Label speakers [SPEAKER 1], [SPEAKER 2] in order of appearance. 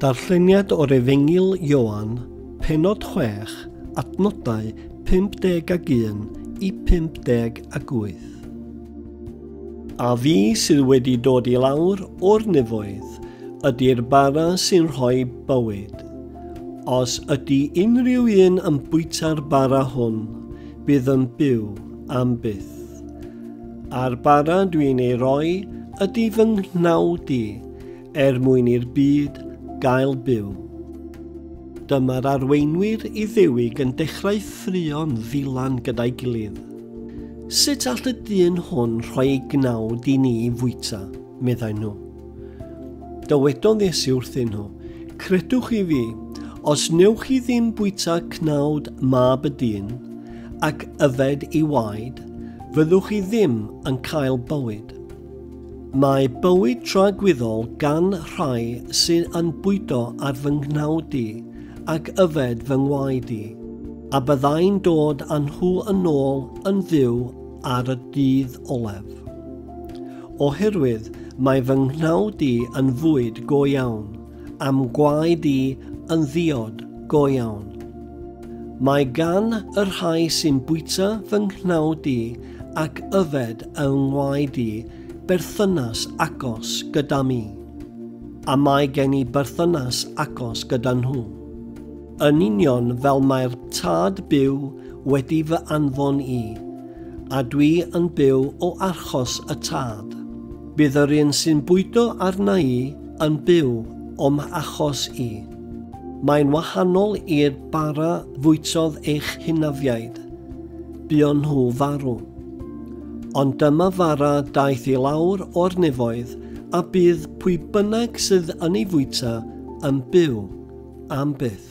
[SPEAKER 1] Darlleniad o'r Efengyl Ioan, pennod 6, adnodau 51 i 58. A fi sydd wedi dod i lawr o'r nefoedd ydy'r bara sy'n rhoi bywyd. Os ydy unrhyw un yn bwyta'r bara hwn, bydd yn byw am byth. A'r bara dwi'n ei roi ydy fy nghnawd i, er mwyn i'r byd gael byw. Dyma'r arweinwyr Iddewig yn dechrau ffrio'n ddilan gyda'i gilydd. Sut all y dyn hwn rhoi ei gnawd i ni fwyta, meddai nhw. Dywedodd Iesu wrthyn nhw, Credwch i fi, os newch chi ddim bwyta cnawd mab y dyn, ac yfed i waed, fyddwch chi ddim yn cael bywyd. Mae bywyd tragwyddol gan rhai sy'n yn bwydo ar fy nghnawd i ac yfed fy ngwaed i, a byddai'n dod â nhw yn ôl yn fyw ar y dydd olaf. Oherwydd mae fy nghnawd i yn fwyd go iawn, am gwaed i yn ddiod go iawn. Mae gan y rhai sy'n bwyta fy nghnawd i ac yfed yng ngwaed i berthynas agos gyda mi, a mae gen i berthynas agos gyda nhw. Yn union fel mae'r tad byw wedi fy anfon i, a dwi yn byw o archos y tad. Bydd yr un sy'n bwydo arna i yn byw o'm achos i. Mae'n wahanol i'r bara fwytodd eich hynafiaid. Buon nhw farw. Ond dyma fara daeth i lawr o'r nefoedd, a bydd pwy bynnag sydd yn ei fwyta yn byw am byth.